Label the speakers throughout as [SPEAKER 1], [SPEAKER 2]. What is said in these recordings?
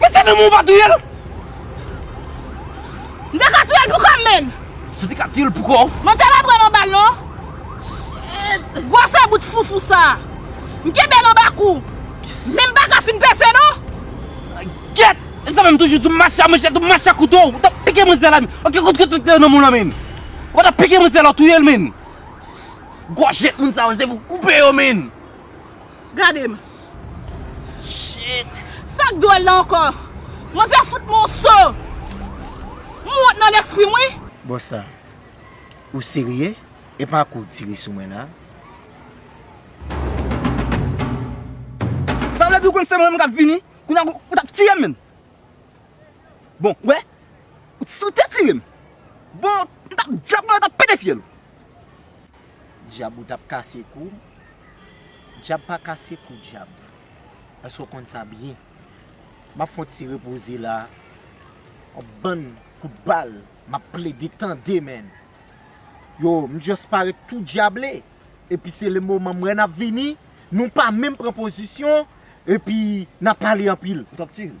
[SPEAKER 1] Men se nan men w va touye l.
[SPEAKER 2] M te ka touye l pou kò m menn. Si w te ka touye l pou
[SPEAKER 1] kò w. Men sa pa pran nan bal
[SPEAKER 2] non. Gwosè bout foufou sa. M kenbe l anba kou. Men m pa ka fin pèse non. Gyèt! E
[SPEAKER 1] sa menm toujou di w mache a manchèt ou mache a kouto. Ou ta pike manzè la menn. Ou gen kout kouto ki te nan men w lan menn. Ou pa ta pike manzè la w touye l menn. Gwòjèt moun sa yo se pou w koupe yo menn. Gade
[SPEAKER 2] m. Shit. Sak dwol la anko. Manzè fout mwen yon so. M wont nan lespri m wi. Bossa.
[SPEAKER 3] Ou serye? Epa kou w tire sou mwen la?
[SPEAKER 4] Sa vle di ou konn se mwen menm kap vini? Kounya ou tap tiyem menm. Bon, ou wè, si w te tire m, bon, m t ap dyab mwen, m t ap pete fyèl ou. Dyab
[SPEAKER 3] ou t ap kase kou m. Dyab pa kase kou dyab. Èske w konn sa byen? M ap fè yon ti repoze la a. Yon bann kout bal m ap plede tande menn. Yo, m just parèt tou dyable. Epi se le moman m wè n ap vini, nou pa menm pran pozisyon, epi n ap pale anpil. Ou t ap tire m?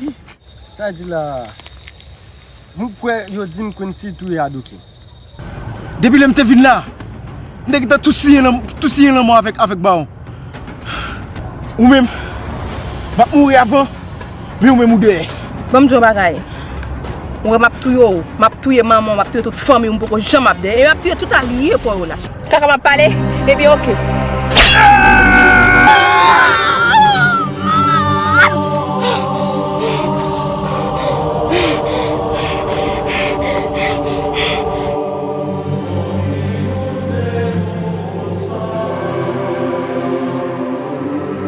[SPEAKER 2] Wi.
[SPEAKER 4] Sa di la a? M kwè yo di m Quincy touye Adoki. Depi lè m te vin la a, m te gentan tou siyen lanmò avèk bawon. Ou menm, m ap mouri avan, men ou menm ou dèyè. Ban m di w yon bagay.
[SPEAKER 5] Ou wè m ap touye w, m ap touye manman w, m ap touye tout fanmi w, m poko janm ap dèyè. E m ap touye tout alye paw yo la. Kaka map pale ebyen ok.